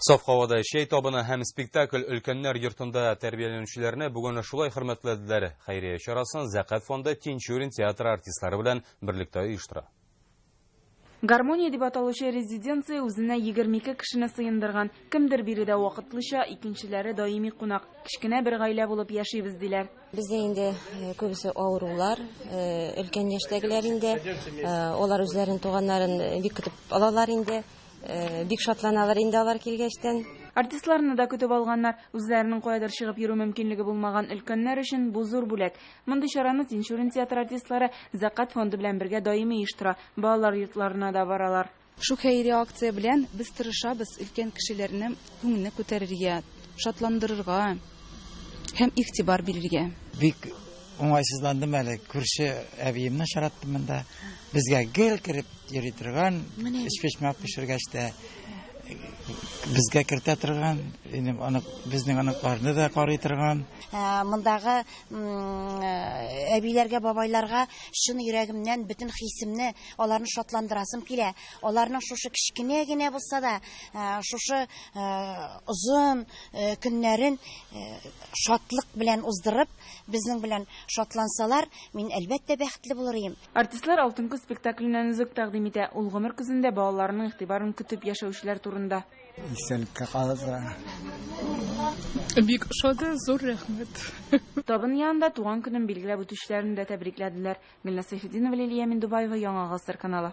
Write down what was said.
Саф һавада чәй табыны һәм спектакль өлкәннәр йортында тәрбияләнүчеләрне бүген шулай хөрмәтләделәр. Хәйрия чарасын Зәкәт фонды Тинчурин театры артистлары белән берлектә оештыра. Гармония дип аталучы резиденция үзенә 22 кешене сыендырган. Кемдер биредә вакытлыча, икенчеләре даими кунак. Кечкенә бер гаилә булып яшибез, диләр. Бездә инде э, күбесе авырулар, э, өлкән яшьтәгеләр инде. Э, алар үзләрен туганнарын бик көтеп алалар инде. Бик шатланалар инде алар килгәчтән. Артистларны да көтеп алганнар. Үзләренең каядыр чыгып йөрү мөмкинлеге булмаган өлкәннәр өчен бу зур бүләк. Мондый чараны Тинчурин театры артистлары Зәкат фонды белән бергә даими оештыра, балалар йортларына да баралар. Шу хәйри акция белән без тырышабыз өлкән кешеләрнең күңелне күтәрергә, шатландырырга. һәм игътибар бирергә. Бик уңайсызландым әле, күрше әбиемне очраттым монда. Безгә гел кереп йөри торган, эчпечмәк пешергәч тә безгә кертә торган, аны безнең аныкларны да карый торган. Мондагы әбиләргә, бабайларга чын йөрәгемнән бөтен хисемне, аларны шатландырасым килә. Аларның шушы кечкенә генә булса да, шушы озын, Көннәрен шатлык белән уздырып, безнең белән шатлансалар, мин, әлбәттә, бәхетле булыр идем. Артистлар Алтын көз спектакленнән өзек тәкъдим итә, ул гомер көзендә балаларның игътибарын көтеп яшәүчеләр турында. Истәлеккә калырга. Бик ошады, зур рәхмәт. Табын янында туган көнен билгеләп үтүчеләрне дә тәбрикләделәр. Гөлназ Сәйфетдинова, Лилия Миндубаева, Яңа гасыр каналы.